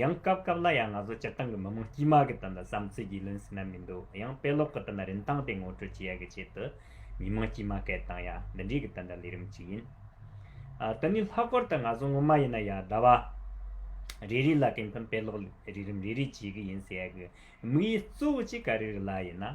ཡང་སྐབས་སྐབས་ལ་ཡང་ང་ཚོ་སྤྱིར་བཏང་གི་མི་དམངས་དཀྱུས་མ་གི་དོན་དུ་བསམ་ཚུལ་རྒྱུས་ལོན་ཟིན་ན་མི་འདུག་ཡང་དཔེ་ཀློག་གི་དོན་དུ་རིན་ཐང་དེ་ངོ་སྤྲོད་བྱེད་ཡ་གི་ཆེད་དུ་མི་དམངས་དཀྱུས་མ་སྐད་བཏང་ཡ་འདི་འདྲའི་གི་དོན་དུ་ལས་རིམ་གཅིག་ཡིན། དེ་ནི་ལྷག་པར་དུ་ང་ཚོ་ངོ་མ་ཡིན་ན་ཡ་ཟླ་བ་རེ་རེ་ལ་དེ་མཐུན་དཔེ་ཀློག་རིགས་རིམ་རེ་རེ་བྱེད་གི་ཡིན་ཟེར་ཡ་གི་དམིགས་ཡུལ་གཙོ་བོ་གཅིག་ག་རེ་རེ་ལ་ཡིན་ན།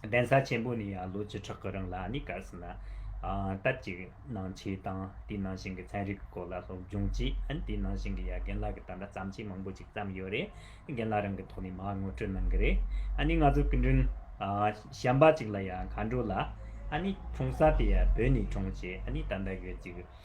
གདན་ས་ཆེན་པོ་ནས་ཡང་ལོ་བཅུ་ཕྲག་གི་རིང་ལ་ནི་གལ་སྲིད་ན། སྟབས་ཅིག་སྣང་མཆེད་དང་དེའི་ནང་བཞིན་གྱི་ཚན་རིག་གི་སྐོར་ལ་སློབ་སྦྱོང་བྱས། ཨན་དེའི་ནང་བཞིན་གྱི་ཡ་རྒན་ལགས་ཀྱི་ད་ལྟ་བརྩམས་ཆོས་མང་པོ་ཅིག་བརྩམས་ཡོད་རེད། རྒན་ལགས་རང་གི་ཐོག་ནས་མ་ངོ་སྤྲོད་གནང་གི་རེད། ཨ་ནི་ང་ཚོ་སྐུ་མགྲོན། བྱམས་པ་ཅིག་ལ་ཡང་མཁའ་འགྲོ་ལ། ཨ་ནི་འཁྲུངས་ས་དེ་ཡང་བོད་ནས་འཁྲུངས་བྱས་ཨ་ནི་ད་ལྟ་ཡོད་ཅིག།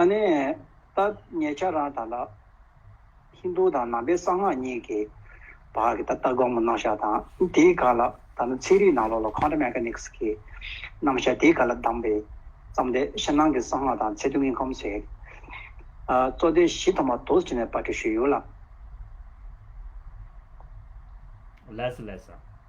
ཨ་ནེ། ད་ངས་ཁྱེད་རང་དང་ལ། ཧིན་དུ་དང་ནང་པའི་གསང་སྔགས་གཉིས་ཀྱི། བར་གྱི་ད་ལྟ་དགོངས་པ་རྣམ་བཞག་དང་དེའི་ག་ལ་ད་ནི་ཚིག་རིས་ནང་ལོགས་ལ Contra Mechanics གི། རྣམ་བཞག་དེའི་ག་ལ་གདམས་པའི། བརྩམས་ཏེ་ཕྱི་ནང་གི་གསང་སྔགས་དང་ཚད་ཐུང་གི་ཁམས་སུ། གཙོ་དོན་བཞི་ཐོག་མ་དུས་ཀྱི་ནས་པར་འབྲི་ཞུས་ཡོད་ལ། Leslie།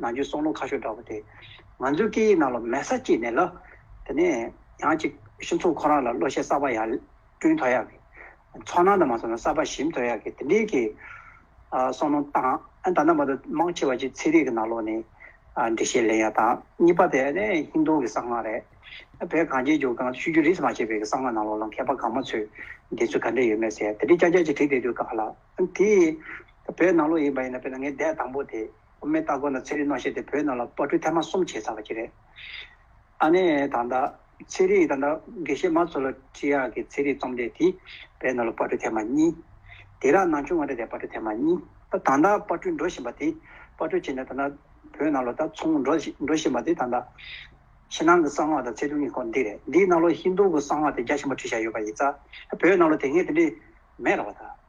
ནང་ཆོས་སྲོག་རླུང་ཁ་ཤོ་འདྲ་བོ་དེ། ང་ཚོའི་སྐད་ཡིག་ནང་ལ་མལ་ས་སྐྱེས་ནས་ལ། དེ་ནས་ཡང་ཅིག་ཤིང་ཚོང་ཁོ་རང་ལ་བློ་ཤེས་གསར་པ་ཡང་བསྐྲུན་དོ་ཡག་གི། ཚོང་ནང་དུ་མ་སོང་ན་གསར་པ་ཞིམ་དོ་ཡག་གི་དེ་འདྲའི་གི། སྲོག་རླུང་བཏང་ཨ་ད་ནང་པ་དུ་མང་ཆེ་བ་ཅིག་ཚེ་རིག་གི་ནང་ལོག་ནས། འགྲེལ་བཤད་ལེན་ཡག་དང་གཉིས་པ་དེ་ནི་ཧིན་རྡུ་གི་གསང་སྔགས་རེད། བོད་གངས་ཅན་ལྗོངས་གངས་ཤུད་རྒྱུ་རིས་མ་བྱས་པའི་གི་གསང་སྔགས་ནང་ལོག་ལ་མཁས་པ་གང་མ་ཚོས་འདི་ཚོ་ག་འདྲ་ཡོད་མེད་ཟེར་ཡ་དེ་འདྲའི་སྐྱ་སྐྱ་ཅིག་བྲིས་བསྡད་དུས་དགའ་ལ། དེ། བོད་ནང་ལོག་ཡིན་པ་ཡིན་ན་དཔེར་ན་ངའི་འདས་དང་པོ་དེ། དབུ་མའི་སྟ་གོན་ལ་ཚེ་རིང་རྣོ་ཞེས་ཏེ་བོད་ནང་ལ་དཔར་སྐྲུན་ཐེངས་མ་གསུམ་བྱས་ཚར་བ་ཅིག་རེད། ཨ་ནེ་དང་ད། ཚེ་རིང་དང་ད། དགེ་བཤེས་མ་ཚོ་ལ་བཀྲིས་ཡག་གི་ཚེ་རིང་རྩོམ་འདེགས་དེ་བོད་ནང་ལ་དཔར་སྐྲུན་ཐེངས་མ་གཉིས། དེ་རག་ནང་ཆུང་བ་འདྲ་དེ་དཔར་སྐྲུན་ཐེངས་མ་གཉིས། ད་དང་ད་དཔར་སྐྲུན་འགྲོ་བཞིན་པ་དེ། དཔར་སྐྲུན་བྱས་ནས་ད་ད། བོད་ནང་ལ་ད་ཚོང་འགྲོ་འགྲོ་བཞིན་པ་དེ་དང་ད། ཕྱི་ནང་གི་གསང་སྔགས་དང་ཚད་ཐུབ་གཉིས་སྐོར་འདི་རེད། འདིའི་ནང་ལོ་ཧིན་རྡུ་གི་གསང་སྔགས་དེ་རྒྱ་ཆེན་པོ་བྲིས་བཞག་ཡོད་པ་ཡིན་ཙང། བོད་ནང་ལ་དེ་སྔའི་དེ་འདྲའི་མེད་རོགས་ད།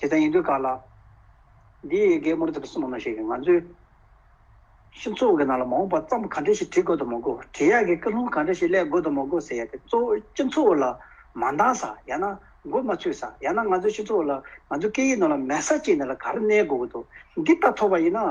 དེ་ཙམ་ཡིན་དུས་ག་ལ། འདི་ཡི་གེ་མུར་ཙམ་གསུང་མ་ནོར་ཞེས་ང་ཚོས། ཤིང་གཙོ་བོ་གི་ནང་ལ་མ་འོངས་པ་བརྩམས་གང་འདྲ་ཞིག་བྲིས་དགོས་དང་མ་དགོས་བྲིས་ཡག་གི་ཀུན་སློང་གང་འདྲ་ཞིག་གླས་དགོས་དང་མ་དགོས་ཟེར་ཡ་དེ་གཙོ་བོ་ཤིང་གཙོ་བོ་ལ་མ་འདང་ས་ཡང་ན་མགོ་མ་ཚུད་ས་ཡང་ན་ང་ཚོས་ཤིང་གཙོ་བོ་ལ་ང་ཚོའི་སྐད་ཡིག་ནང་ལ་མལ་ས་བཅད་ནས་ལ་གར་གནས་དགོས་གི་འདུག་འདི་ལྟ་ཐོབ་པ་ཡིན་ན།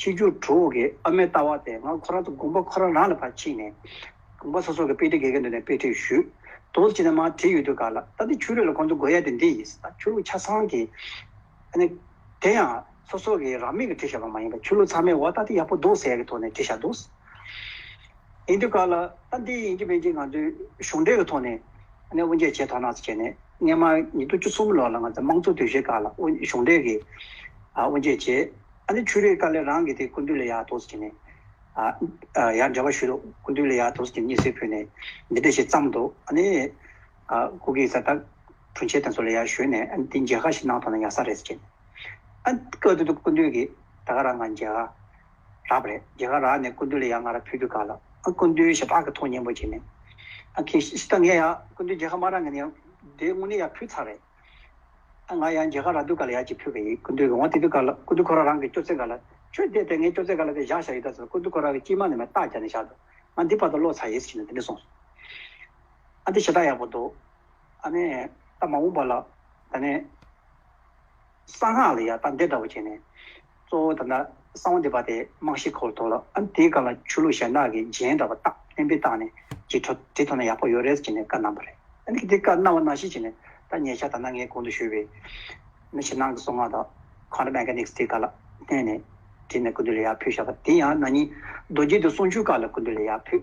ཕྱི་རྒྱུགས་དྲུག་འོག་གི་ཨ་མའི་ལྟ་བ་དེ་སྔར་ཁོ་རང་ཚོ་དགོན་པ་ཁོ་རང་རང་ལ་ཕར་ཕྱིན་ནས། དགོན་པ་སོ་སོར་གྱི་དཔེ་ཁྲིད་དགེ་རྒན་འདུས་ནས་དཔེ་ཁྲིད་ཞུས། དོགས་གཟིགས་བྱས་ནས་མར་བྲིས་ཡོད་དུས་ག་ལ་ད་ལྟའི་ཆོས་ལུགས་ལ་ཁོང་ཚོ་དགོས་ཡ་དེ་འདི་ཡིན་ཟེར་ད་ཆོས་ལུགས་ཆ་ཚང་གི། ཨ་ནི། དེ་ཡང། སོ་སོ་གྱིས་རང་མོས་ཀྱིས་བྲིས་བཞག་པ་མ་ཡིན་པར་ཆོས་ལུགས་ཚང་མས་འོ་ད་འདི་ཡག་པོ་འདུག་ཟེར་ཡ་གི་ཐོག་ནས་བྲིས་བཞག་འདུག། ཡིན་དུས་ག་ལ་ད་འདི་ཡིན་གྱི་མིན་གྱི་ང་ཚོས་གཞུང་འབྲེལ་གྱི་ཐོག་ནས། ཨ་ནི་དབུ་འབྱེད་བྱས་ཐོག་ནགས་བྱས་ནས་སྔན་མ་ཉིས་སྟོང་བཅུ་གསུམ་ལོར་ལ་ང་ཚོའི་དམངས་གཙོ་དུས་བཞིར་ག་ལ་དབུ་གཞུང་འབྲེལ་གྱིས། ཨ་དབུ་འབྱེད་བྱས། ཨ་ནི་ཆུ་རེའི་དཀར་ལས་རང་གི་དེ་ཀུན་འདུས་ལས་ཡར་དོ་ཟེར་གྱིས་ནས། ཨ། ཡར་འདྲ་བ་ཞུས་ཏོ། ཀུན་འདུས་ལས་ཡར་དོ་ཟེར་གྱིས་གཉིད་སད་ཕུད་ནས། འདི་འདྲ་ཞེས་བརྩམས་ཏོ། ཨ་ནི། ཨ། སྐུ་གེ་སར་དག། བྲུན་ཆེ་དང་སོགས་ལས་ཡར་ཞུས་ནས། ཨ་ནི་འདི་མཇལ་ཁ་ཞིག་གནང་ཐོག་ན་ཡག་ས་རེད་ཟེར་གྱིས་ནས། ཨ། སྐབས་དེ་དུས་ཀུན་འདུས་ཀྱིས། ད་ག་ར་ང་མཇལ་ཁ། རག་པ་རེད། མཇལ་ཁ་རག་ནས་ཀུན་འདུས་ལས་ཡར་ང་ར་ཕུད་རྒྱུ་ག་ལ། ཨ་ཀུན་འདུས་ཞེས་བག་གི་ཐོག་སྙན་པོ་བྱས་ནས། ཨ་ཁེ། ད་ངས་ཡག་ཀུན་འདུས་མཇལ་ཁ་མ་རག་ངས་ནི་ཡང། དེ་དངོས་གནས་ཡར་ཕུད་ཚར་རེད། ང་ཡང་རྒྱལ་ཁ་ར་དུས་ག་ལ་ཡག་ཅིག་ཕུད་གི་ཡིན་ཀུན་དུས་རུང་བ་དེ་དུས་ག་ལ་ཀུན་དུས་ཁོ་ར་རང་གི་སྐྱོ་ཚེ་ག་ལ་ཁྱོད་བསྡད་དེ་ངའི་སྐྱོ་ཚེ་ག་ལ་དེ་བཞག་བཞག་ཡོད་ད་ཟེར་ཀུན་དུས་ཁོ་ར་གི་སྐྱིལ་མ་ནི་མེ་སྟག་རྒྱག་ནས་བཞག་འདུག་ང་འདི་བར་དུ་བློ་ཚ་ཡེ་ཟིག་བྱས་ནས་དེ་ནས་སོང་སོང། ཨ་འདི་ཞེ་དྲག་ཡག་པོ་འདུག་ཨ་ནི། ད་མ་འོངས་པ་ལ། ད་ནི། གསང་སྔགས་ལ་ཡག་ད་འདི་འདྲ་བོ་བྱས་ནས། གཙོ་བོ་དང་ན་གསང་བ་འདི་པ་དེ་རྨང་གཞི་ཁོག་ཐོག་ལ་ཨང་དེའི་སྒང་ལ་ཆུ་ལུག་ཞལ་ནག་གི་རྗེན་འདྲ་བ་བཏགས་བརྟན་པོས་བཏགས་ནས་ཇི་འཕྲོ་དེ་འཐོར་ན་ཡག་པོ་ཡོད་རེད་ཅེས་ནས་བཀའ་གནང་བ་རེད། ཨང་ཀི་དེ་བཀའ་གནང་བ་ན་ཞིག་ཅེས་ནས་ད་ཉེ་ཆར་ད་ནངས་གོང་དུ་ཞུས་པའི་ན་ཕྱི་ནང་གི་སྲོག་སྔགས་དང Quantum Mechanics དེ་ག་ལ་བསྣན་ནས་བྲིས་ནས་ཀུན་ཏུ་ལས་ཡག་ཕུལ་བཞག་པ་དེ་ཡང་ན་ནིང་རྡོ་རྗེ་དེ་གསུང་ཆོས་སྐབས་ལ་ཀུན་ཏུ་ལས་ཡག་ཕུལ།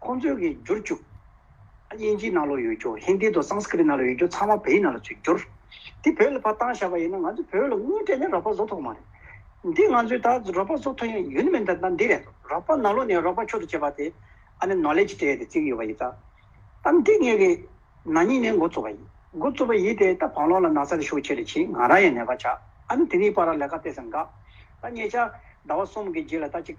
ཁོང་ཚོས་ཀྱིས་བསྒྱུར་བཅུག། དབྱིན་ཇིའི་ནང་ལོག་ཡོད་རྒྱུ། ཧིན་དྷི་དང་སངས་སྐི་རི་ནང་ལོག་ཡོད་རྒྱུ་ཚང་མ་བོད་ཡིག་ནང་ལོག་ཚུད་བསྒྱུར། འདི་བོད་ལ་ཕར་བཏང་བཞག་པ་ཡིན་ན་ང་ཚོས་བོད་ལ་དངུལ་སྤྲད་ནས་རག་པ་བཟོ་ཐུབ་མ་རེད། འདི་ང་ཚོས་ད་རག་པ་བཟོ་ཐུབ་ཡང་ཡུན་མི་འདི་འདི་རེད། རག་པ་ནང་ལོག་ནས་རག་པ་ཆོག་ཏུ་བྱེད་པ་དེ་ཨ་ནི་ནོ་ལེ་ཇི་ཏྲེ་དེ་བརྩིགས་ཡོད་པ་ཡིན། ད་འདི་ངེད་ཀྱི་ན་ནིང་ནས་འགོ་བཙུགས་པ་ཡིན། འགོ་བཙུགས་པ་ཡིན་དེ་ད་བང་ལོག་ལ་ན་ཚ་རེ་ཤོག་ཆེ་རེ་བྱིན་ང་རང་ཡང་ནད་པ་ཆགས་ཨ་ནི་དེ་ནིང་པར་རག་ལས་ཀ་སྤེལ་ས་འགག། ད་ངེད་ཅག་ཟླ་བ་གསུམ་གྱི་རྗེས་ལ་ད་ཅིག།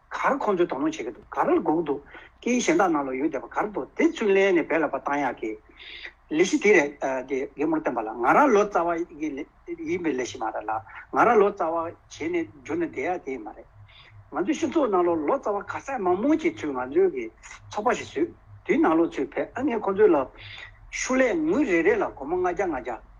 གར་ཁོང་ཚོས་དོ་སྣང་བྱེད་ཀྱི་འདུག་གར་ལ་འགུག་འདུག་ཀྱི་གཞན་དག་ནང་ལ་ཡོད་བསྡད་པ་གར་འདུག་དེ་ཚུར་ལེན་ནས་བེད་ལ་པ་བཏང་ཡག་གི། ལས་གཞི་དེ་རེད་དེ་རྒན་མོར་བསྟན་པ་ལ་ང་རང་ལོ་ཙཱ་བ་ཡིན་པའི་ལས་གཞི་མ་རེད་ལ་ང་རང་ལོ་ཙཱ་བ་བྱེད་ནས་འགྱུར་ནས་བསྡད་ཡག་དེ་ཡིན་མ་རེད། ང་ཚོའི་ཤི་ཚོགས་ནང་ལོ་ཙཱ་བ་ག་ས་མང་མོ་ཅིག་ཚུར་ང་ཚོའི་གི་ཚོགས་པ་ཞིག་བཟོས་དུས་ནང་ལོ་ཚུར་བེད་ཨ་ངས་ཁོང་ཚོའི་ལ་ཤུ་ལས་ངུ་རེ་རེ་ལ་གོ་མོ་ལྔ་བརྒྱ་ལྔ་བརྒྱ།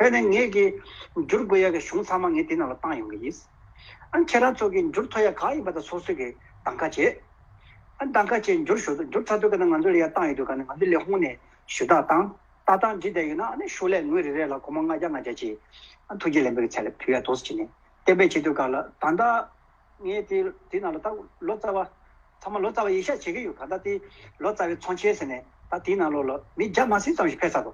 བོད་ནས་ངེད་ཀྱིས་འགྱུར་དགོས་ཡག་གི་གཞུང་ཚང་མ་ངེད་དེ་ནང་ལ་བཏང་ཡོང་གི་ཡིན། ཨ་ཁྱེད་རང་ཚོ་གིས་འགྱུར་ཐོ་ཡག་ག་ཡིན་པ་དང་སོ་སོས་ཀྱིས་གདང་ཁ་བྱེད། ཨ་གདང་ཁ་བྱེད་འགྱུར་ཞུ་དོ་འགྱུར་ཚ་དོད་ག་ནས་ང་ཚོ་ལ་ཡ་བཏང་ཡོད་དུས་ག་ནས་ང་ཚོ་ལས་ཧོང་ནས་ཞུ་དག་བཏང་ལྟ་སྟངས་འདྲི་བསྡད་ཡོད་ན་ཨ་ནི་ཤོག་ལས་ངོས་རེ་རེ་ལ་གོ་མ་ལྔ་བརྒྱ་ལྔ་བརྒྱ་ཅིག་ཨ་ཐུགས་རྗེ་ལན་པོ་གི་ཚད་ལ་བུ་ཡ་དོགས་སུ་བྱིན་ནས་གཏན་འབེབས་བྱེད་དུས་ག་ལ་ད་ལྟ། ངས་དེ་དེ་ནང་ལ་ད་ལོ་ཙཱ་བ། ཚང་མ་ལོ་ཙཱ་བ་ཡེ་ཤ་བྱེད་ཀྱི་ཡོད་ག་ད་དེ་ལོ་ཙཱ་བའི་ཚོང་ཆས་ཟེར་ནས་ད་དེ་ནང་ལོ་ལ་མི་བརྒྱ་མ་ཟིན་ཙམ་ཞིག་ཕེབས་ས་དོ།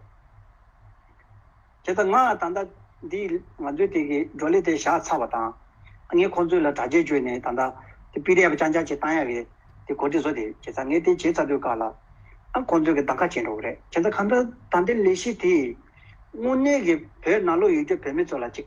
དེ་ད་ང་ད་ད་འདི་ང་ཚོའི་དེ་གི་བགྲོ་གླེང་དེ་བཞག་ཚར་བ་དང། ངས་ཁོང་ཚོའི་ལ་དྲ་རྒྱ་བཅོས་ནས་ད་ད་དེ་པི་རེ་ཡ་བ་ཅང་ཅང་ཅིག་བཏང་ཡ་རེད་དེ་གོ་དེ་བཟོ་དེ་བྱེད་ཚར་ངས་དེ་བྱེད་ཚར་དུས་ཀ་ལ། ཁོང་ཚོས་གི་ད་ཁ་བྱེད་འགྲོ་གི་རེད་བྱེད་ཚར་གང་ལྟར་ད་འདི་ལས་གཞི་དེས་དངོས་གནས་གི་བོད་ནང་ལོག་ཡོད་རྒྱུ་བོད་མི་ཚོ་ལ་ཅིག།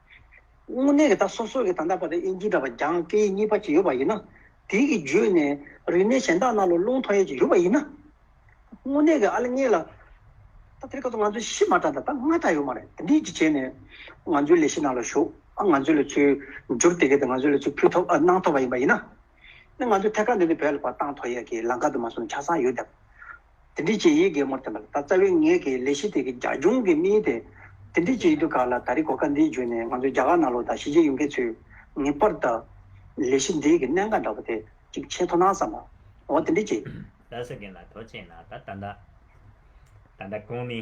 དངོས་གནས་ཀྱི་ད་སོ་སོ་གྱི་ད་ལྟ་བར་དབྱིན་ཇི་འདྲ་བ་རྒྱང་བཀལ་གཉིས་པ་ཅིག་ཡོད་པ་ཡིན་ན། དེའི་གི་བརྗོད་ནས་རིག་གནས་གཞན་དག་ན་ལོ་རླུང་ཐོ་ཡས་ཅིག་ཡོད་པ་ཡིན་ན། དངོས་གནས་ཀྱི་ཨ་ལ་ངེས་ལ། ད་དེར་ཁ་ཐུག་ང་ཚོ་གཞི་མ་དྲག་ད་ད་སྔ་དྲག་ཡོད་མ་རེད་དེ་འདི་གཅིག་བྱས་ནས། ང་ཚོའི་ལས་གཞི་ནང་ལ་ཞུགས་ཨ་ང་ཚོའི་ལས་ཚུལ་འགྱུར་དེ་གས་དེ་ང་ཚོའི་ལས་ཚུལ་ཕུལ་ཐོབ་ཨ་གནང་ཐོབ་པ་ཡིན་པ་ཡིན་ན། ནི་ང་ཚོའི་ཐད་ཀར་འདི་འདི་བས་ལ་བར་སྟངས་ཐོ་ཡས་ཀྱི་ལང་ཀ་དུ་མ་གསུམ་ཆ་ཚང་ཡོད་དེ། དེ་འདྲའི་གྱི་ཡིག་གེ་མོར་བསྟན་པ་ལ་ད་རྩ་བའི་ངེད་ཀྱི་ལས་གཞི་དེ་གི་རྒྱ་གཞུང་གི་དམིགས་ཡུལ་དེ་དེ་འདྲའི་གྱི་ཡིག་ཏུ་ག་ལ་ད་རེས་གོ་སྐབས་འདི་བརྒྱུད་ནས་ང་ཚོའི་རྒྱ་གར་ནང་ལོགས་དང་གཞིས་བྱེས་ཡུལ་མཁན་ཚོས་ངེས་པར་དུ་ལས་གཞི་འདི་གི་གནད་འགག་འདྲ་པོ་དེ་གཅིག་ཆེ་མཐོ་སྣང་བསམ་པ་འོ་དེ་འདྲའི་གྱི། ལ་སོགས་རྒན་ལ་ཐོ་ཆེན་ལ་ད་ད་ད་ད་ད་གོང་མའི།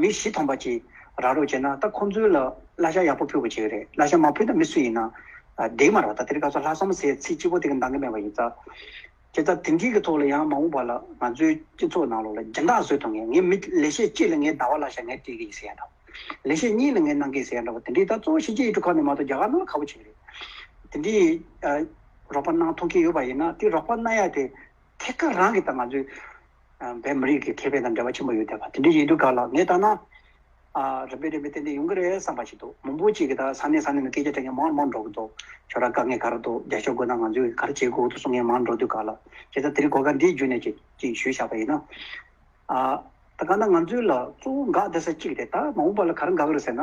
མི་བཞི་ཐོངས་པ་གྱིས་ར་རོ་བྱས་ན་ད་ཁོང་ཚོའི་ལ་བླ་ཤ་ཡག་པོ་ཕུལ་བ་བྱས་རེད་བླ་ཤ་མ་ཕུལ་ད་མི་སུ་ཡིན་ན་བདེ་མ་ར་བ་ད་དེར་ཁ་སོ་ལྷག་བསམ་ཟས་ཚིག་སྤྱི་བོ་དེ་གི་འདང་གི་མེད་པ་ཡིན་ས་ཁྱེད་ད་དེ་འདྲིའི་གི་ཐོག་ལ་ཡང་མ་འོངས་པ་ལ་ང་ཚོའི་སྤྱི་ཚོགས་ནང་ལོག་ལ་སྦྱིན་བདག་བཟོས་ཐུབ་ངེས་ངས་མི་ལེ་ཤས་གཅིག་ལ་ངའི་ཟླ་བ་བླ་ཤ་ངས་སྤྲད་གི་ཡིན་ཟེར་ཡ་འདྲ་བ་ལེ་ཤས་གཉིས་ལ་ངས་གནང་གི་ཡིན་ཟེར་ཡ་འདྲ་བ་དེ་འདྲིའི་ད་གཙོ་བོ་གཞིས་བྱེས་ཡུལ་གྲུ་ཁག་ནས་མ་གཏོགས་རྒྱ་གར་ནང་ལ་ཁ་བོ་བྱེད་གི་རེད་དེ་འདྲིའི་རོགས་པ་གནང་ཐུབ་མཁན་ཡོད་པ་ཡིན་ན་དེ་རོགས་པ་གནང་ཡ་དེ་ཐད་ཀར་རང་གི་ད་ང་ཚོའི་བའི་མི་རིགས་ཀྱི་མཁས་པའི་དང་འབྲེལ་བ་ཆེན་པོ་ཡོད་བསྡད་པ་དེ་འདྲ་ཞིག་འདུག་ག་ལ་ངས་བལྟ་ན། རིམ་པས་རིམ་པས་ཏན་ཏན་ཡོང་གི་རེད་བསམ་པ་ཞིག་འདུག་མང་པོ་ཅིག་གིས་ད་ས་གནས་ས་གནས་ནས་སྐད་ཆ་དྲིས་མཁན་མང་མང་འགྲོ་གི་འདུག་ཁྱོད་རང་དཀའ་ངལ་ག་རེ་འདུག་རྒྱ་ཤོག་དགོས་ན་ང་ཚོས་ག་རེ་བྱེད་དགོས་འདུག་གསུང་མཁན་མང་འགྲོ་འདུག་ག་ལ་ཁྱེད་ཅག་དེ་རིང་གོ་སྐབས་འདི་བརྒྱུད་ནས་ཅིག་ཅིག་ཞུས་བཞག་པ་ཡིན་ན། ད་ག་ན་ང་ཚོའི་ལ་གཙོ་བོ་འགག་བསྡད་ས་གཅིག་རེད་ད་མ་འོངས་པ་ལ་ག་རེ་འགག་གི་རེད་ཟེར་ན།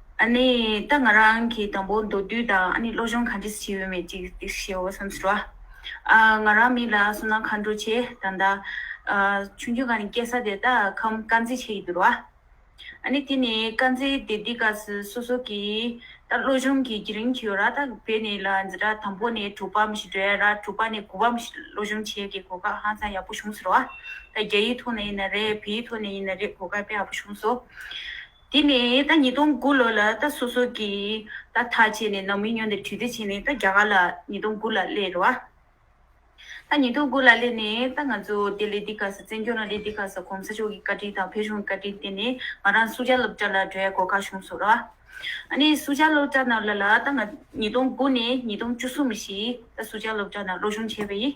ཨ་ནི་ད་ང་རང་གིས་དང་པོ་མདོ་བསྡུས་དང་ཨ་ནི་བློ་སྦྱོང་གང་བྱེད་ཅི་བྱེད་འོས་མེད་ཅིག་ཅིག་བྱེད་འོས་སམ་ཟེར་བ། ཨ་ང་རང་མི་ལ་སོ་ན་མཁའ་འགྲོ་ཆེ་ད་ད། ཆུང་ཆུང་ག་ནི་སྐྱེ་ས་དེ་ད་ཁམས་དཀར་མཛེས་ཆེ་ཡི་འདུར་བ། ཨ་ནི་དེ་ནི་དཀར་མཛེས་དེ་འདི་ག་སོ་སོ་གི་ད་བློ་སྦྱོང་གི་བགྱི་རིན་གྱི་ཡོད་ར་ད་བས་ནི་ལ་འཛི་ར་དང་པོ་ནི་དྲུག་པ་མི་ཤི་དྲོད་ཡ་ར་དྲུག་པ་ནི་དགུ་བ་མི་ཤི་བློ་སྦྱོང་བྱེད་ཀྱི་གོ་སྐབས་ཧང་སང་ཡག་པོ་བྱུང་ཟེར་བ། ད་རྒྱ་ཡིག་ཐོག་ནས་ཡིན་ན་རེད་བོད་ཡིག་ཐོག་ནས་ཡིན་ན་རེད་གོ་སྐབས་དཔེ་ཡག་པོ་བྱུང་སོ། དེ་ནས་ད་ཉིས་སྟོང་དགུ་ལོ་ལ་ད་སོ་སོ་གི་ད་ཐག་བྱས་ནས་ནང་མི་ཉོ་འདི་དྲི་དེ་བྱས་ནས་ད་རྒྱ་གར་ལ་ཉིས་སྟོང་དགུ་ལ་སླེབས་རོ། ད་ཉིས་སྟོང་དགུ་ལ་སླེབས་ནས་ད་ང་ཚོ་དེ་ལས་དེ་ཁ་ས་བཙན་སྐྱོང་ལ་ལས་དེ་ཁ་ས་གོང་ས་མཆོག་གི་བཀའ་དྲིན་དང་བོད་གཞུང་གི་བཀའ་དྲིན་བརྟེན་ནས་ང་རང་སུ་ཇཱ་སློབ་གྲྭ་ལ་འགྲོ་ཡ་གོ་ཁ་བྱུང་སོ་ར། ཨ་ནི་སུ་ཇཱ་སློབ་གྲྭ་ནང་ལ་ལ་ད་ང་ཉིས་སྟོང་དགུ་ནས་ཉིས་སྟོང་བཅུ་གསུམ་བཞི་ད་སུ་ཇཱ་སློབ་གྲྭ་ནང་སློབ་སྦྱོང་བྱས་པ་ཡིན།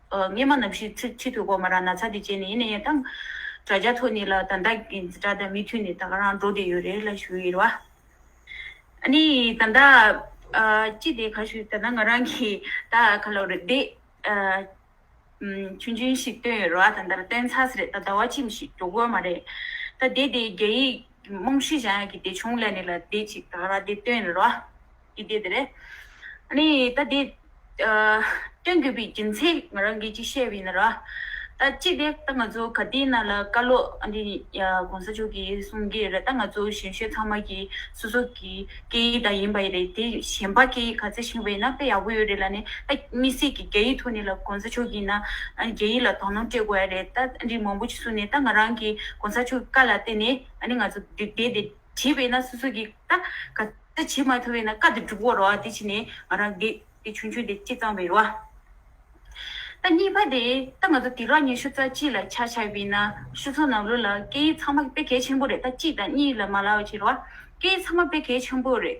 སྔས་མ་ནམ་ཞིག་ཚིག་ཕྱི་དུ་གོ་མ་རང་ན་ཚ་དེ་བྱས་ནས་ཡིན་ན་ཡང་ཐང། དྲ་རྒྱ་ཐོག་ནས་ལ་ད་ད་གི་འཛི་དྲ་དང་མི་མཐུན་ནས་ད་ག་རང་འགྲོ་བསྡད་ཡོད་རེད་ལ་ཞུ་ཡི་རེད་བ། ཨ་ནི་ད་ད། ཅི་དེ་ག་ཞུ་ད་ད་ང་རང་གི་ད་ག་ལོག་རེད་བསྡད། ཆུང་ཆུང་ཞིག་བཏོན་ཡོད་རེད་བ་ད་ད་ར་བཏོན་ཚར་ཟེར་རེད་ད་ད་བ་ཅི་མི་ཞིག་འགྲོ་དགོས་མ་རེད། ད་བསྡད་དེ་རྒྱ་ཡིག་རྨོངས་ཤིག་བཞག་ཡག་གི་དེ་བྱུང་ལ་ནས་ལ་བསྡད་ཅིག་ད་ག་ར་དེ་བཏོན་ཡོད་རེད་བ། ཀྱི་དེ་དེ་རེད། ནི་ད་དེ། སྟོན་དགོས་པའི་རྒྱུ་མཚན་ང་རང་གིས་ཅིག་བཤད་པ་ཡིན་ན་ར། ད་ཅིག་དེ་ད་ང་ཚོ་ག་དེའི་ནང་ལ་བཀའ་བློ་འདི་གོང་ས་མཆོག་གིས་གསུང་གི་རེད་ད་ང་ཚོ་གཞན་བཤོས་ཚང་མ་གི་སོ་སོ་གི་སྐད་ཡིག་ད་ཡིན་པ་རེད་དེ་གཞན་པ་སྐད་ཡིག་ག་ཚད་ཤིང་བས་ན་དཔེ་ཡག་པོ་ཡོད་རེད་ལ་ནི་ད་མི་སེར་གི་རྒྱ་ཡིག་ཐོག་ནས་ལ་གོང་ས་མཆོག་གིས་ན་རྒྱ་ཡིག་ལ་དོ་སྣང་སྤྲད་དགོས་ཡ་རེད་ད་འདི་མང་པོ་ཅིག་གསུང་ནས་ད་ང་རང་གིས་གོང་ས་མཆོག་གི་བཀའ་ལ་བརྟེན་ནས་ནི་ང་ཚོ་དེ་དེ་དེ། བྱས་པས་ན་སོ་སོ་གི་ཀ། ག་ཚད་བྱེད་མ་ཐུབ་པས་ན་ཀ་དེ་འགྲུབ་བོར་རོ་ཨ་དེ་ཕྱིན་ནས་ང་རང་དེ། དེ་ཆུང་ཆུང་དེ་སྤྱི་གཙང་བའི་རོ་ཨ། ད་གཉིས་པ་དེ་ད་ང་ཚོ་དེ་རང་ཉིད་ཤུ་རྩ་གཅིག་ལ་ཆ་ཆགས་པས་ན་ཤུ་ཚོ་ནང་ལོ་ལ་སྐད་ཡིག་ཚང་མ་དཔེ་གལ་ཆེན་པོ་རེད་ད་གཅིག་དང་གཉིས་ལ་མ་ལའོ་བྱེད་རོ་ཨ། སྐད་ཡིག་ཚང་མ་དཔེ་གལ་ཆེན་པོ་རེད།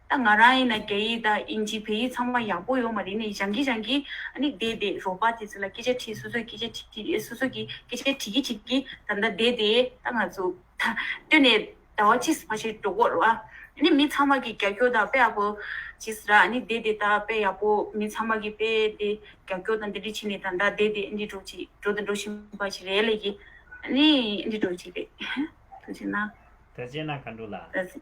ད་ང་རང་ཡིན་ན་རྒྱ་ཡིག་དང་དབྱིན་ཇི་བོད་ཡིག་ཚང་མ་ཡག་པོ་ཡོད་མ་རེད་ནས་རང་གིས་རང་གིས་ཨ་ནི་བསྡད་དེ་རོགས་པ་དེ་ཚོ་ལ་སྐད་ཆ་དྲིས་སོ་སོས་སྐད་ཆ་དྲིས་དྲིས་སོ་སོ་གིས་སྐད་ཆ་དྲིས་ཀྱིས་དྲིས་ཀྱིས་ད་ལྟ་བསྡད་དེ་ད་ང་ཚོ་ད་སྟོད་ནས་ཟླ་བ་གཅིག་ཕ་ཤེལ་འགྲོ་དགོས་རེད་བ། ཨ་ནི་མི་ཚང་མ་གིས་རྒྱ་སྐྱོར་དང་དཔེ་ཡག་པོ་བྱས་ཟེར་ར་ཨ་ནི་བསྡད་དེ་ད་དཔེ་ཡག་པོ་མི་ཚང་མ་གིས་དཔེ་དེ་རྒྱ་སྐྱོར་དང་འདི་འདྲས་བྱས་ནས་ད་ད་བསྡད་དེ་ཨ་འདྲས་འགྲོ་ཅིག་འགྲོ་དང་འགྲོ་བཞིན་པ་ཞིག་རེད་ལས་ཀྱིས་ཨ་ནི་འདྲས་འགྲོ་ཅིག་རེད། ད་བྱས་ན། ད་བྱས་ན་ག་འགྲོ་ལ། ད་བྱས།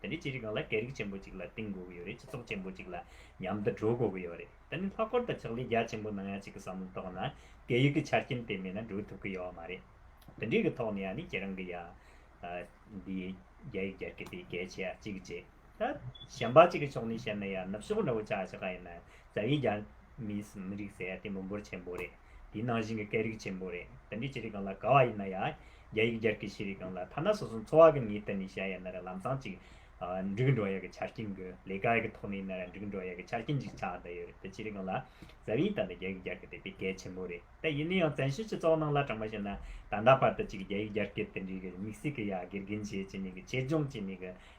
དེ་ནི་ཅི་རིགས་གང་ལ་སྐད་རིགས་ཆེན་པོ་གཅིག་ལ་གཏིང་དགོས་ཀྱི་ཡོད་རེད་སྤྱི་ཚོགས་ཆེན་པོ་གཅིག་ལ་མཉམ་དུ་གྲོས་དགོས་ཀྱི་ཡོད་རེད་དེ་ནི་ལྷག་པར་དུ་ཕྱག་ལས་རྒྱ་ཆེན་པོ་གནང་ཡ་གཅིག་གི་བསམ་བློའི་ཐོག་ན་སྐད་ཡིག་གི་ཆ་རྐྱེན་དེ་མེད་ན་གྲོས་ཐུབ་ཀྱི་ཡོད་མ་རེད་དེ་འདྲའི་གི་ཐོག་ནས་ཡ་ནི་ཁྱེད་རང་གི་ཡ་འདི་རྒྱ་ཡིག་རྒྱ་སྐད་དེ་གལ་ཆེ་ཡ་གཅིག་གཅིག་ད་གཞན་པ་གཅིག་གི་ཕྱོགས་ནས་བཤད་ན་ཡ་ནུབ་ཕྱོགས་འདྲ་བོ་ཆགས་ཆགས་ཡིན་ན་རྩ་བའི་རྒྱ་མིས་མི་རིགས་ཟེར་ཡ་དེ་མི་འབོར་ཆེན་པོ་རེད། དེའི་ནང་བཞིན་གྱི་སྐད་རིགས་ཆེན་པོ་རེད། དེ་འདྲའི་ཆེ་རིགས་གང་ལ་དགའ་བ་ཡིན་ན་ཡང། རྒྱ་ཡིག་སྦྱར་གྱི་ཤེས་རིག་གང་ལ་ཐ་ན་སོ་སོ་འཚོ་བ་གི་ངེས་གཏན་ནས་བྱ་ཡ་ན་ར་ལམ་སང་ཅིག། འགྲིག་འགྲོ་ཡ་གི་ཆ་རྐྱེན་དགོས། ལས་ཀ་གི་ཐོག་ནས་ན་ར་འགྲིག་འགྲོ་ཡ་གི་ཆ་རྐྱེན་ཅིག་ཆགས་བསྡད་ཡོད་རེད་དེ་ཆེ་རིགས་གང་ལ། ཟབ་ཡིག་དང་ད་རྒྱ་ཡིག་སྦྱར་གི་དེ་དཔེ་གལ་ཆེན་པོ་རེད་དེ་ཡིན་ན་ཡང་བཙན་ཤེད་ཀྱི་ཚོགས་ནང་ལ་དྲངས་པ་བྱས་ན། ད་ལྟ་བར་དུ་ཅིག་རྒྱ་ཡིག་སྦྱར་གི་དེ་འདྲའི་གི་དམིགས་བསལ་གི་ཡ་དགེ་རྒན་བྱས་བྱས་ནས་གི་ཆེད་སྦྱོང་བྱས་ནས་གི་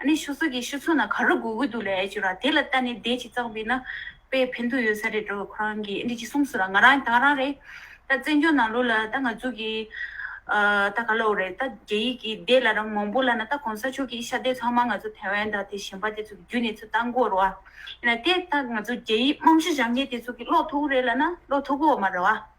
ཨ་ནི་ཤོ་སོག་གི་ཤོ་ཚོ་ན་ག་རུ་དགོས་གི་འདུག་ལ་ཨེ་ཅོ་ར་དེ་ལ་ལྟ་ནི་བདེ་ཅིག་ཙག་བི་ན་པའི་ཕན་ཐོག་ཡོད་ས་རེད་འགྲོ་བས་ཁོ་རང་གིས་ཨེ་འདི་ཅིག་གསུངས་སོ་ལ་ང་རང་དང་རང་རེད་ད་བཙན་བྱོལ་ནང་ལུགས་ལ་ད་ང་ཚོ་གི་ད་ག་ལ་འོ་རེད་ད་རྒྱ་ཡིག་གི་བདེ་ལ་རང་མང་པོ་ལ་ན་ད་གོང་ས་མཆོག་གིས་ཤ་བདེ་ཚང་མ་ང་ཚོ་ཐེ་ཝན་དང་དེ་གཞན་པ་དེ་ཚོ་གི་རྒྱུ་ནས་ཚོ་ད་མགོ་རུ་ཨ་ཡིན་ན་དེ་ད་ང་ཚོ་རྒྱ་ཡིག་རྨང་གཞི་བཞག་མཁན་དེ་ཚོ་གི་ཀློག་ཐུག་གི་རེད་ལ་ན་ཀློག་ཐུག་གི་འོ་མ་རུ་ཨ།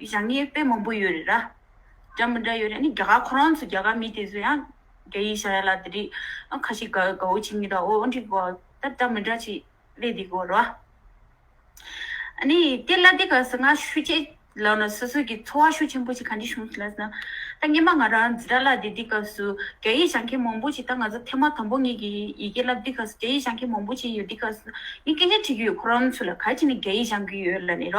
ཞང་ངའི་དཔེ་མང་པོ་ཡོད་རེད་ར། སྒྲ་མི་འདྲ་ཡོད་རེད་ནི་རྒྱ་གར་ཁོ་རང་ཚོ་རྒྱ་གར་མི་དེ་ཚོ་ཡང་རྒྱ་ཡིག་ཤ་ཡ་ལ་དེ་རིགས་ཁ་ཤི་དགའ་དགའ་བོ་བྱེད་ངེས་དང་འོ་འདྲི་དགོས་ད་སྒྲ་མི་འདྲ་ཅིག་གླེང་དེ་དགོས་ར། ནི་དེ་གླ་དེ་ག་ཟེར་ང་ཤུ་ཆེ་ལགས་ན་སོ་སོ་གི་འཚོ་བ་ཤུ་ཆེན་པོ་ཞིག་ག་འདྲི་བྱུང་ཟེར་ལགས་ན། ད་སྔན་མ་ང་རང་འཛི་ར་ལ་དེ་དེ་ག་སུ་རྒྱ་ཡིག་ཤ་མཁན་མང་པོ་ཅིག་ད་ང་ཚོ་ཐེ་མ་དང་པོ་ངེད་ཀྱི་ཡི་གེ་བསླབ་དེ་ག་སུ་རྒྱ་ཡིག་ཤ་མཁན་མང་པོ་ཅིག་ཡོད་དེ་ག་སུ་ངས་སྐད་ཆ་དྲི་གི་ཡོད་ཁོ་རང་ཚོ་ལ་ག་ཅིག་ནི་རྒྱ་ཡིག་ཤ་གི་ཡོད་ལ་ནི་ར།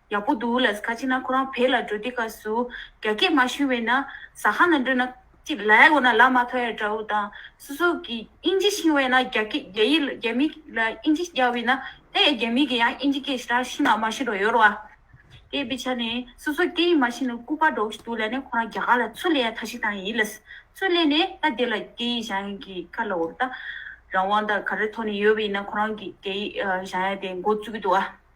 ཡག་པོ་འདུག་ལ་ཁ་ཅིག་ན་ཁོ་རང་བལ་ལ་འགྲོ་དུས་ཁ་སུ་རྒྱ་སྐད་མ་ཤུན་བས་ན་ཟ་ཁང་ལ་འགྲོ་ན་ཅིག་ལ་ཡག་གོ་ན་ལ་མ་ཐོ་ཡ་འདྲ་བོ་དང་སོ་སོ་གི་དབྱིན་ཇི་ཤིང་བས་ན་རྒྱ་སྐད་རྒྱ་ཡིག་ལ་རྒྱ་མིག་ལ་དབྱིན་ཇི་རྒྱ་བས་ན་དེ་ཡ་རྒྱ་མིག་གི་ཡ་དབྱིན་ཇི་སྐད་ཞི་ར་ཤིང་ན་མ་ཤི་རོ་ཡོ་རོ་ཨ། དེ་བི་ཆ་ནས་སོ་སོ་སྐད་ཡིག་མ་ཤི་ན་སྐུ་པ་འགྲོག་ཤི་འདུག་ལ་ནས་ཁོ་རང་རྒྱ་གར་ལ་ཚུ་ལེ་ཡ་ཐ་ཤི་དང་ཡིན་ལ་ཚུ་ལེ་ནས་ད་དེ་ལ་སྐད་ཡིག་ཞང་ཡིག་གི་ཁ་ལ་འོ་ད་རང་དབང་ད་ག་རེ་ཐོ་ནས་ཡོ་བས་ན་ཁོ་རང་གི་སྐད་ཡིག་ཞང་ཡ་དེ་འགོ་བཙུག་གི་འདུག་ཨ།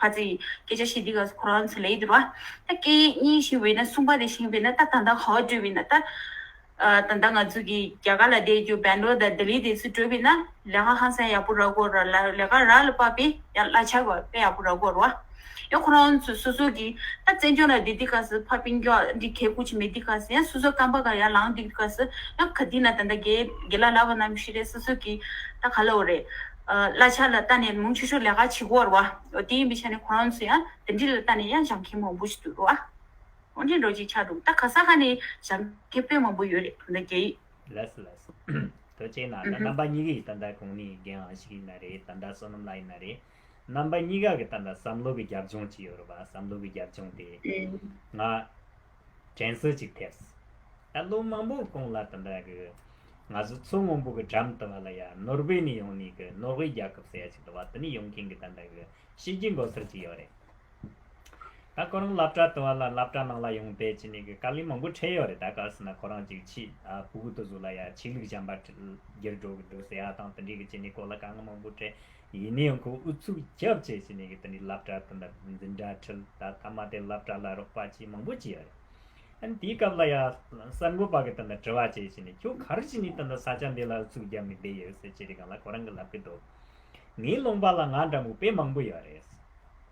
བ་ཅི། སྐད་ཆ་ཤེས་འདི་ག་སུ་ཁོ་རང་ཚོ་ལས་འདིར་བ། ད་སྐད་ཡིག་གཉིས་ཤིག་འོས་ན་གསུངས་པ་དེ་བཞིན་བས་ན་ད་ད་ལྟ་ག་བ་བྲོས་བས་ན་ད། ད་ད་ང་ཚོ་གི་རྒྱ་གར་ལ་བསྡད་རྒྱུ་བན་རོ་དང་ལྡི་ལི་དེ་ཚོ་བྲོས་བས་ན་ལས་ཀ་ཧང་སང་ཡག་པོ་རག་དགོས་ར་ལ་ལས་ཀ་རག་ལ་པ་བས་ཡང་གླ་ཆ་ག་བས་ཡག་པོ་རག་དགོས་ར་བ། ཡང་ཁོ་རང་ཚོ་སོ་སོ་གི་ད་བཙན་བྱོལ་ལ་འདི་འདི་ག་སུ་ཕ་པིང་རྒྱ་འདི་གས་ཁུག་ཆེ་མེད་འདི་ག་སུ་ཡང་སོ་སོ་སྐམ་པ་ག་ཡང་ལང་འདི་ག་སུ་ཡང་ག་དེ་ན་ད་ད་གས་གས་ལ་ལ་བ་ནམ་ཞིག་རེད་སོ་སོ་གི་ད་ག་ལ་བ་རེད། གླ་ཆ་ལ་ལྟ་ནས་མུང་ཆུ་ཆུ་ལས་ཁ་ཆིག་བོར་བ། དེ་ཡིན་པའི་ཆ་ནས་ཁོ་རང་ཚོ་ཡང་དེ་འདྲི་ལ་ལྟ་ནས་ཡང་ཞང་ཁེ་མང་པོ་ཞིག་ཏུ་འགྲོ་བ། ཧོན་ཀྲིན་རོ་ཅིག་ཆགས་འདུག་ད་ག་ས་ག་ནས་ཞང་ཁེ་དཔོན་མང་པོ་ཡོད་རེད་དོ་ན་རྒྱ་ཡིག། ལས་ལས། དོལ་ཅེ་ན་ད་རྣམ་པ་གཉིས་ཀ་ཡི་ད་ལྟ་གང་ནས་ཡི་རྒན་ཨང་ཞིག་ཡིན་ན་རེད་ད་ལྟ་བསོད་ནམས་ལགས་ཡིན་ན་རེད། རྣམ་པ་གཉིས་ཀ་གི་ད་ལྟ་བསམ་བློ་གི་རྒྱབ་ལྗོངས་ཅི་ཡོད་རེད་བ་བསམ་བློ་གི་རྒྱབ་ལྗོངས་དེ། ང། དྲན་གསོ་ཅིག་ཐེབས། ད་ལོ་མང་པོ་སྐོང་ལ་དུ་འདྲ་གི། ང་ཚོ་མཚོ་སྔོན་པོ་གི་འགྲམ་དུ་བ་ལ་ཡ་ནོར་བྷེ་ནི་ཡོང་ནི་གི་ནོར་ཝེ་རྒྱལ་ཁབ་ས་ཡ་ཅིག་དུ་བ་དུ་ནི་ཡོང་གིན་གི་ད་འདྲ་གི་ཤེས་རྒྱུ་མགོ་སེར་ཅིག་ཡོད་རེད། ད་ཁོ་རང་ལབ་གྲ་དུ་བ་ལ་ལབ་གྲ་ནང་ལ་ཡོང་བལྟས་ཅི་ནི་གི་དཀའ་ལས་མང་པོ་འཕྲད་ཡོད་རེད་ད་ག་སི་ན་ཁོ་རང་ཅིག་ཕྱིས་པུ་གུ་དུ་བཟོ་ལ་ཡ་ཆིག་ལུག་བྱམས་པ་བརྒྱར་འགྲོ་གི་འདུག་ཟེ་ཡ་དང་དུ་འདྲི་གི་ཅི་ནི་སྐོར་ལ་དཀའ་ངལ་མང་པོ་འཕྲད། ཡིན་ནའི་ཁོ་ཨུ་ཚུགས་རྒྱབ་བཅས་བྱས་ནས་དེ་ནས་བསླབ་གྲྭ་དེ་འདྲ་འཛིན་གྲྭ་ཁྲིད་ད་ཐ་མ་དེ་བསླབ་གྲྭ་ལ་རོགས་པ་བྱས་མང་པོ་བྱས་རེད་དེའི་སྐབས་ལ་ཡང་གསར་འགོད་པ་གི་དེ་འདྲ་དྲི་བ་བྱས་བྱས་ནས་ཁྱོད་ག་རེ་བྱས་ནས་དེ་འདྲ་ས་ཆ་འདི་ལ་ཨུ་ཚུགས་རྒྱབ་ནས་བསྡད་ཡོད་ཟེར་ཅི་རེད་གང་ལ་ཁོ་རང་གི་ལབ་གི་འདུག་ངའི་ལུང་པ་ལ་ང་འདྲ་མུག་པའི་མང་པོ་ཡོད་རེད་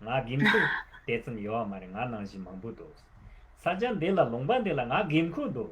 ང་དགེ་མཚུག་དེ་ཙམ་ཡོད་མ་རེད་ང་ནང་བཞིན་མང་པོ་འདུག་ས་ཆ་འདི་ལ་ལུང་པ་འདི་ལ་ང་དགེ་མཁོ་འདུག་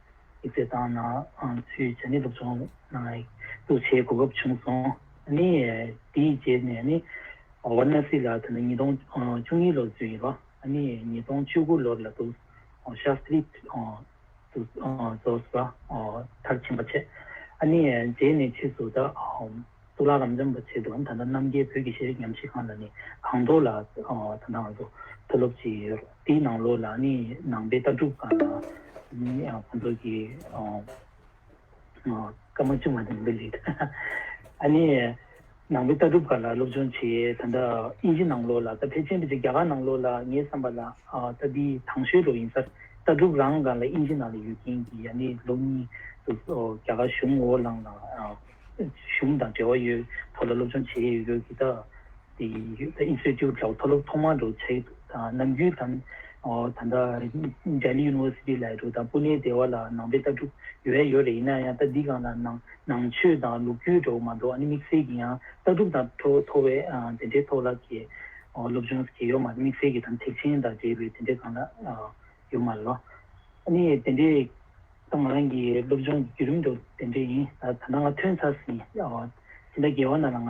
ཡིག་ཚད་བཏང་ན་ཚུལ་ཇི་སྙེད་དུ་བྱུང། བསླུ་བྱའི་གོ་སྐབས་བྱུང་སོང། དེའི་རྗེས་ནས་ནི་ཝར་ནཱ་སི་ལ་ད་ནི་ཉིས་སྟོང་བཅུ་གཉིས་ལོར་བཙོན་ཡོད། ཉིས་སྟོང་བཅུ་དགུ་ལོར་ལ་དུ་ཤཱ་ཏྲི་དུ་རྫོགས་པ་མཐར་ཕྱིན་པ་བྱས། རྗེས་ནས་ཕྱིས་སུ་ད་སུ་ལ་རམ་འབྱམས་པ་བྱས་འདུག་ད་རྣམ་རྒྱལ་བོད་ཀྱི་ཤེས་རིག་ཉམས་ཞིབ་ཁང་ལ་ནི་གངས་མདོག་ལ་ད་ནའང་དུ་སློབ་བྱས་ཡོད། དེའི་ནང་ལོགས་ལ་ནི་ནང་པའི་ལྟ་གྲུབ་ཁག་ལ་ནི་ཁོང་ཚོ་གི་སྐར་མ་ཆུང་བ་ནས་འབུད་ལེགས། ཨ་ནི་ནང་པའི་ལྟ་གྲུབ་ཁག་ལ་སློབ་སྦྱོང་བྱེད་ད་ལྟ་དབྱིན་ཇི་ནང་ལོགས་ལ་ད་ཕལ་ཆེན་པོ་ཆེ་རྒྱ་གར་ནང་ལོགས་ལ་ངའི་བསམ་པ་ལ་ད་འདི་དྭངས་ཤོས་རུ་ཡིན་སར་ལྟ་གྲུབ་རང་གང་ལ་དབྱིན་ཇི་ནང་ལ་ཡོད་མཁན་གྱི་ཡ་ནི་ལོ་གཉིས་སུ་རྒྱ་གར་གཞུང་འོག་ལངས་ལ་གཞུང་དང་འབྲེལ་བ་ཡོད་ཐོག་ལ་སློབ་སྦྱོང་བྱེད་ཡོད་དགོས་གི་ད། Institute ལ་མཐོ་སློབ་ཐོག་མ་འགྲོ་ཚེ་དང་ནམ་རྒྱུན་དང། ད་ལྟ Delhi University ལ་འགྲོ་དང Pune སྡེ་བ་ལ་ནང་པའི་ལྟ་གྲུབ་ཡོད་ཡ་ཡོད་རེད་ཡིན་ན་ཡང་ལྟ་འདི་གང་ལ་ནང་ནང་ཆོས་དང་ལུགས་རྒྱུད་འདྲ་བོ་མ་གཏོགས་དམིགས་བསལ་གྱི་ཡང་ལྟ་གྲུབ་དང་ཁྲོ་བོ་ཐོ་བས་དེ་འདྲའི་ཐོག་ལབ་ཀྱི་སློབ་སྦྱོང་ཟེར་གྱི་ཡོད་མ་རེད་དམིགས་བསལ་གྱི་དམ་ཚིག་ཆེན་དང་འབྲེལ་བའི་དེ་འདྲའི་གང་ལ་ཡོད་མ་རེད། ནི་དེ་འདྲའི་ད་ང་རང་གི་སློབ་སྦྱོང་གི་བརྒྱུད་རིམ་དུ་དེ་འདྲའི་ཡིན་ད་ད་ལྟ་ང་ཐོན་ཚར་ཟིན་ཟིན་ད་རྒྱལ་བ་ན་ལ་ང་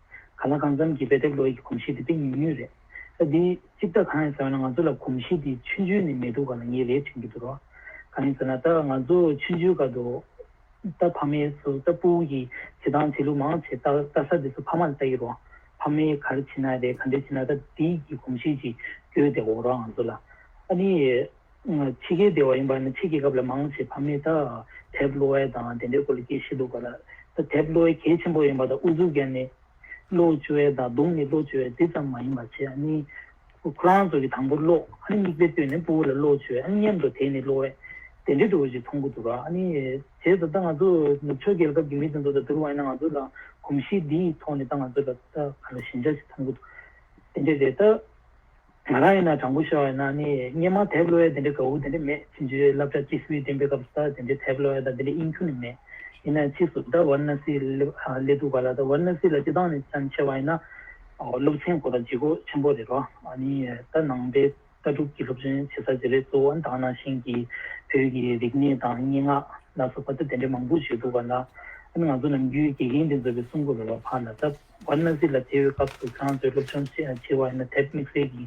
ག་ལ་གང་འཚམ་གྱིས་དཔེ་དེབ་ཀློག་ཡིག་གི་གོམས་གཤིས་དེ་དཔེ་ཉུང་ཉུང་རེད། ས་དེའི་སྤྱི་བདག་གང་ཡིན་ཟེར་བ་ན་ང་ཚོ་ལ་གོམས་གཤིས་དེའི་ཆུ་འཇུས་ནི་མེད་འདུག་ག་ལ་ངས་རེད་དྲན་གྱི་འདུག་རོགས། གང་ཡིན་ཟེར་ན་ད་ང་ཚོ་ཆུ་འཇུས་སྐབས་དུ། རྟ་ཕ་མའི་སོ་རྟ་སྤུ་བོ་ཀྱི་བྱེད་སྟངས་བྱེད་ལུགས་མང་ཆེ་རྟ་ས་དེ་སོ་ཕ་མ་ལ་བལྟ་ཡི་རོགས། ཕ་མའི་གར་ཕྱིན་ན་རེད་ག་འདྲས་ཕྱིན་ན་ད་དེའི་གི་གོམས་གཤིས་ཀྱིས་སྐྱོ་སྟེ་འོ་རོགས་ང་ཚོ་ལ། ཨ་ནི། ཕྱི་རྒྱལ་སྡེ་བ་ཡིན་པ་ནི་ཕྱི་རྒྱལ་ཁབ་ལ་མང་ཆེ་བ་མི་ད་དེབ་ལོ་ཝལ་དང་དེ་འདྲའི་སྐོར་ལ་སྐད་ཤེས་འདུག་ག་ལ་ད་དེབ་ལོ་ཝལ་གལ་ཆེན་པོ་ཡིན་པ་དང་ཨུ་ཟུག་ཀན་ནི་ལོ་བཅུ་ཝལ་དང་དུང་ནི་ལོ་བཅུ་ཝལ་དེ་ཙམ་མ་ཡིན་པ་བྱས་ཨ་ནི་ཁོ་རང་ཚོ་གི་དང་པོར་ལོ་ཨ་ནི་མིག་དཔེ་ལྟོས་ནས་སྤུ་བོ་ལ་ལོ་བཅུ་ཝལ་ཨ་ནི་མཉམ་དུ་དེ་ནི་ལོ་ཝལ་དེ་འདྲའི་སྐོར་ཅིག་མཐོང་གི་འདུག་ག་ཨ་ནི་བྱས་ད་ད་ང་ཚོ་ནུབ་ཕྱོགས་རྒྱལ་ཁབ་ཀྱི་མི་དེ་ཚོ་དང་བསྡུར་བ་ཡིན་ན་ང་ཚོ་ལ་གོམས་གཤིས་འདིའི་ཐོག་ནས་ད་ང་ཚོ་ལ་ད་ག་ལ་ཞན་ཆ་ཞིག་མཐོང་གི་འདུག་དེ་འདྲ་རེད་ད། ང་རང་ཡིན་ན་དྲང་པོ་ཤོད་ཡིན་ན་ནི་སྙན་མ་དེབ་གློ་བའི་དེ་འདྲའི་དགའ་བོ་དེ་འདྲ་མེད་ཕྱིན་ཆད་བསླབ་བྱ་སྐྱིད་སྤུས་ལྡན་པའི་སྐབས་སུ་ད་དེ་འདྲའི་དེབ་གློ་བ་དང་དེ་འདྲའི་དབྱིན་ཁྱུ་ནི་མེད། ཡིན་ན་ཕྱིས་སུ་ཟླ་བར་ན་སི་ལས་འདུག་ག་ལ་ཟླ་བར་ན་སི་ལ་སྤྱི་བཏང་ནི་ཅང་ཆེ་བ་ཡིན་ན་སློབ་ཆེན་གོ་ལ་ལྗིད་ཁོག་ཆེན་པོ་རེད་བ་ནི་ད་ནང་པའི་ལྟ་གྲུབ་ཀྱི་སློབ་ཆེན་ཆེ་ས་དེ་རེད་གཙོ་བོ་དྭངས་ནང་ཞིང་གི་བོད་ཀྱི་རིག་གནས་དང་སྙན་ངག་ལ་སོགས་པ་ད་དེ་འདྲའི་མང་པོ་བྱས་འདུག་ག་ལ་ཨ་ནི་ང་ཚོ་ནམ་རྒྱུན་དགེ་རྒན་དེ་ཚོ་བའི་གསུང་སྐོར་རོལ་བ་ཕར་ལ་བཏབ། བར་སྣང་སྲིད་ལ་བརྩེ་བའི་སྐབས་སུ་ཚང་བཟོད་སློབ་ཆུང་ཆེ་བ་ཡིན་ན་དེབ་དམིགས་བསལ་གྱི་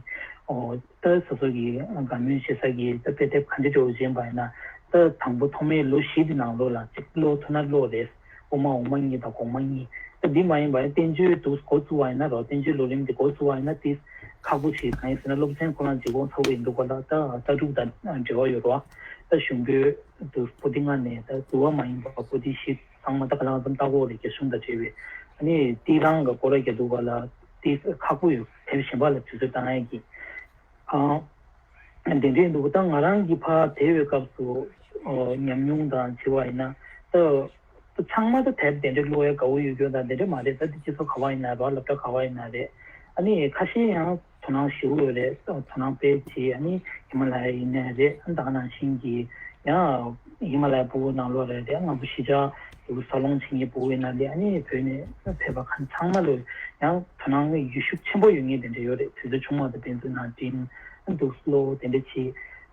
ཏཱ་ཟ་སོགས་ཀྱི་དགའ་མོས་ཆེ་ས་ཀྱི་ཏཱ་དཔེ་དེབ་ག་འདྲི་དྲོ་བོ་གཞན་པ་ཡིན་ན་ཏཱ་དང་པོ་ཐོག་མའི་ལོ་བཞི་དེ་ནང་ལོ་ལ་གཅིག་བློ་ཐོ་ན་བློ་རེད་འོག་མ་འོག་མ་གཉིས་དང་གོང་མ་གཉིས་ཏཱ་འདི་མ་ཡིན་པ་ཡིན་བསྟན་བཅོས་དུ་གོ་བཙུགས་བ་ཡིན་ན་རོགས་བསྟན་བཅོས་ལོ་རིམ་དེ་གོ་བཙུགས་བ་ཡིན་ན་ཏི་ཁག་པོ་ཞིག་གང་ཡིན་ཟེར་ན་སློབ་ཚན་ཁོ་རང་ཇི་དགོངས་ཚ་བོ་ཡིན་འདུག་པ་ལ་ཏཱ་ལྟ་དྲུག་དང་འབྲེལ་བ་ཡོད་རོགས་ཏཱ་གཞུང་པོད་དུ་པོ་ཏི་ལྔ་ནས་ཏཱ་དུ་བ་མ་ཡིན་པ་པོ་ཏི་བཞི། ཚང་མ་ད་ག་ལ་ཙམ་ལྟ་གོ་རེད་ཅེས་གསུངས་དང་བྲལ་བས། ནི་ཏི་ལང་གི་སྐོར་ར་རྒྱ་འདུག་པ་ལ་ཏི་ཁག་པོ་ཡོད་དེར་བཞིན་པ་ལ་དུས་ཚོད་ལྟ་ངན་གྱིས། འདི་འདྲས་འདུག་ད་ང་རང་གིས་ཕ་དེ་བའི་སྐབས་སུ་ཉམས་མྱོང་དང་བྱིས་བ་ཡིན་ན། ད་ཚང་མ་ད་དེར་དེ་འདྲས་གླུ་བའི་དགའ་བོ་ཡོད་རྒྱུ་དང་དེ་འདྲས་མ་རེད་ད་དེ་སྤྱི་ཚོགས་ག་བ་ཡིན་ན་རེད་བ་ལབ་གྲ་ག་བ་ཡིན་ན་རེད། ནི་ཁ་ཤས་ཡང། དོ་སྣང་ཞུ་འོས་རེད་དོ་སྣང་སྤེལ་བྱེད་ཡ་ནི་ཧི་མ་ལ་ཡ་ཡིན་ནའི་རེད་ད་ནང་བཞིན་གྱི་ཡང་ཧི་མ་ལ་ཡ་པུའུ་ནང་ལོག་རེད་དེ་སྔ་པོ་གཞི་ཆགས་ཡུ་གུར་ས་སློང་བྱེད་ངེས་པུའུ་ཡིན་ན་ལེ་ཡ་ནི་བོད་ནས་ཕེབས་པ་ཁ་ཚང་མ་ལོས་ཡང་དོ་སྣང་ཡུལ་ཤུགས་ཆེན་པོ་ཡོད་ངེས་དེ་འདྲ་ཡོད་རེད་དུས་ཚོད་ཆུང་མ་ད་དེ་ཚོ་ནང་བྲིན་འདུག་སློ་བོ་དེ་འདྲ་བྱེད།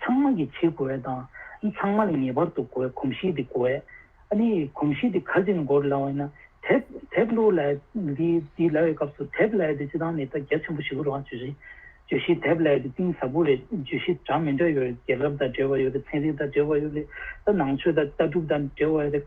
ཚང་མ་གིས་བྱེད་དགོས་བའི་དང། ཚང་མ་ལ་ངེས་པར་དུ་གོ་བའི་གོམས་གཤིས་དེ་གོ་བས། ཨ་ནི་གོམས་གཤིས་དེ་ག་ཟེ་ནས་འགོར་སླ་བ་ཡིན་ན། དེབ། དེབ་ལུགས་ལ། འདི་འདི་ལ་བའི་སྐབས་སུ་དེབ་ལ་བའི་དེ་བྱེད་སྟངས་ནི་ད་རྒྱ་ཆེན་པོ་ཞིག་གོ་རོགས་ཨ་བརྗོད་གཞི། བརྗོད་གཞི་དེབ་ལ་བའི་དེ་གཏིང་ཟབ་པོ་རེད་བརྗོད་གཞི་གྲངས་མེད་འདྲ་ཡོད་རེད་རྒྱལ་ཁབ་དང་འབྲེལ་བ་ཡོད་རེད་ཚན་རིག་དང་འབྲེལ་བ་ཡོད་རེད་ད་ནང་ཆོས་དང་ལྟ་གྲུབ་དང་འབྲེལ་བ་ཡོད་རེད།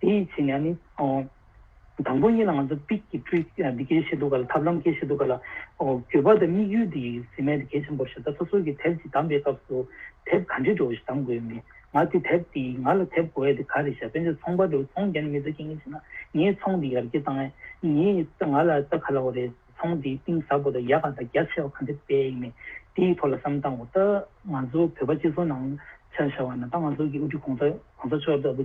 དེ་ཡི་ཕྱི་ནས་ནི། དང་པོ་གཉིས་ལ་ང་ཚོ་དཔྱིད་ཀྱི་སྤྲུལ་སྐུས་འདི་སྐད་བཞེད་འདུག་ག་ལ་ཐབས་ལམ་སྐད་བཞེད་འདུག་ག་ལ། འགྱོད་པ་དང་དམིགས་ཡུལ་དེ་ཡིས་ཟིན་མེད་དེ་གལ་ཆེན་པོར་བཞེད་ད་སོ་སོ་གིས་དེབ་ཅིག་བདམས་པའི་སྐབས་སུ། དེབ་ག་འདྲའི་འགྲོ་བ་ཞིག་བདམས་དགོས་མིན། ང་དེ་དེབ་དེ་ཡིས་ང་ལ་དེབ་གོ་ཡ་དེ་ག་རེད་བཤད་དཔེ་འདི་ཚོང་པར་འགྲོ་བའི་ཚོང་རྒྱག་ནི་མི་ཚོས་ཁྱེད་ངན་བྱས་ན་ངས་ཚོང་འདི་ཡར་རྒྱས་བཏང་ཡ། ངས་ང་ལ་ལྟ་ག་ལ་བ་རེད་ཚོང་འདིའི་གཏིང་ཟབ་པོ་དང་ཡ་ག་དང་རྒྱ་ཆེ་བ་ག་འདྲ་དཔེ་ཡིན་མིན་དེའི་ཐོག་ལ་བསམ་བཏང་གོ་ད་ང་ཚོ་བོད་པ་སྤྱི་ཚོགས་ནང་ཆ་བཞག་པ་ན་ད་ང་ཚོ་གི་དབུ་ཁྲིད་གོང་ས་མཆོག་ལྟ་བུ།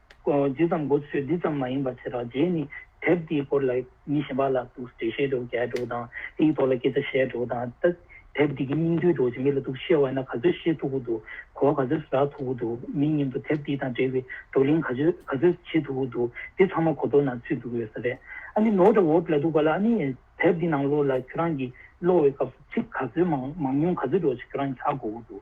ཇི་ཙམ་འགོ་ཚུགས་དེ་ཙམ་མ་ཡིན་པར་ཚེ་དྲག་རྗེས་ནི་དེབ་དེའི་སྐོར་ལ་མི་གཞན་པ་ལ་གཏུགས་སུ་འབྲི་ཤེས་འགྲོ་རྒྱལ་འགྲོ་དང་དེའི་ཐོག་ལ་སྐད་ཆ་བཤད་འགྲོ་དང་ལྟ། དེབ་དེ་གི་སྙིང་བསྡུས་རྡོ་རྗེ་མི་ལ་གཏུགས་སུ་ཤེས་བ་ན་ག་ཚོད་ཤེས་ཐུབ་ཀུ་འདུག་གོ་བ་ག་ཚོད་ཟ་ཐུབ་ཀུ་འདུག་མི་སྙིང་དུ་དེབ་དེ་དང་འབྲེལ་བའི་བགྲོ་གླེང་ག་ཚོད་ག་ཚོད་བྱེད་ཐུབ་ཀུ་འདུག་དེ་ཚང་མ་གོ་ལྡོག་ན་ཚུད་འདུག་ཡོད་ས་རེད། ཨ་ནི་ནོར་འདྲ་འོབས་ལ་འདུག་པ་ལ་ཨ་ནི། དེབ་དེ་ནང་ལོགས་ལ་ཁྱོད་རང་གིས་ཀློག་བའི་སྐབས་སུ་ཚིག་ག་ཚོད་མང་མང་ཉུང་ག་ཚོད་འགྲོ་ཆ་ཁྱོད་རང་གིས་ཧ་གོ་ཀུ་འདུག་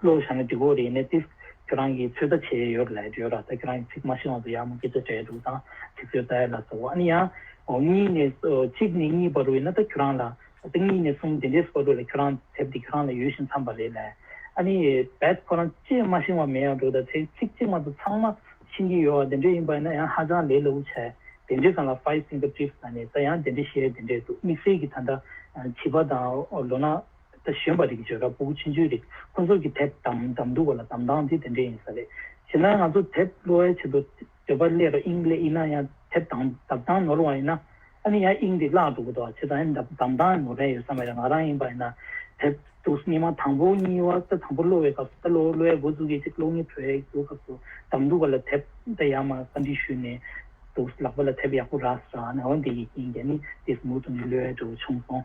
བློ་བཞག་ནས་འདི་གོ་རེད་ནས་ཏིས། ཁྱོད་རང་གིས་ཚོད་ལྟ་བྱས་ཡོད་ལད་ཡོད་ར་ད་ཁྱོད་རང་གིས་ཚིག་མ་ཤེས་དབང་དུ་ཡག་མོ་སྐད་ཆ་བྲལ་འདུག་ད་ཚིག་ཚོད་ལྟ་ཡ་ལ་ཟོ་ཨ་ནི་ཡ། ཨོ་གཉིས་ནས་གཅིག་ནས་གཉིས་བར་བས་ན་ད་ཁྱོད་རང་ལ། ད་གཉིས་ནས་གསུམ་དེ་འདྲས་སུ་བར་བས་ལ་ཁྱོད་རང་དེབ་འདི་ཁྱོད་རང་ལ་ཡོད་བཞིན་འཚམས་པ་རེད་ལད། ཨ་ནི་བད་ཁོ་རང་ཅེས་མ་ཤེས་དབང་མེད་ཡག་འགྲོ་ད་ཚེ་ཚིག་གཅིག་མ་ད་ཚང་མ་ཤེས་ཀྱི་ཡོད་ཨ་དེ་འདྲས་ཡིན་པ་ཡིན་ན་ཡང་ཧ་ཅང་ལས་སླ་བོ་ཆ་དེ་འདྲས་ཙང་ལ five finger tips ད་ནི་ད་ཡང་དེ་འདྲས་བཤད་དེ་འདྲས་འདུག་དམིགས་བསལ་གྱིས་ད་ལྟ་བྱིས་པ་དང་ལོ་ན། གཞོན་པ་རིགས་བརྗོད་ར་སྤུག་ཆེན་ཆུང་རིགས་སོ་སོར་གྱི་དེབ་དམ་དམ་འདུག་པ་ལ་དམ་དྭངས་དེ་དེ་འདྲས་ཡིན་ས་རེད། བྱས་ན་ང་ཚོ་དེབ་གློ་བའི་ཆེད་དུ་འདོད་པ་ཀླད་རོ་དབྱིངས་ཀླད་ཡིན་ན་ཡང་དེབ་དམ་དམ་དྭངས་ནོར་བ་ཡིན་ན། ཨ་ནི་ཡང་དབྱིངས་འདི་བརླག་འགྲོ་གི་འདུག་བྱས་ཙང་ཡང་དམ་དམ་དྭངས་ནོར་རན་ཡོད་ས་མ་རེད་ང་རང་ཡིན་པ་ཡིན་ན་དེབ་འདུག་སྙིགས་མ་དང་པོ་གཉིས་བ་ད་དང་པོ་གློ་བའི་སྐབས་སུ་ད་གློ་བའི་མགོ་བཙུགས་ཀྱི་ཅིག་གློག་གཉིས་བྲོས་ཡག་འདུག་སྐབས་སུ་དམ་འདུག་པ་ལ་དེབ་ད་ཡག་མ་བཀའ་འདྲི་ཞུས་ནས་འདུག་ལག་པ་ལ་དེབ་ཡག་པོ་རགས་ཟེར་བ་ཨ་ནི་འོན་ཏེ་ཡི་གེ་ཡིན་ཀྱི་ཨ་ནི་འདིས་མུར་དུ་ནི་གློའི་འབྲས་བུ་བྱུང་སོང།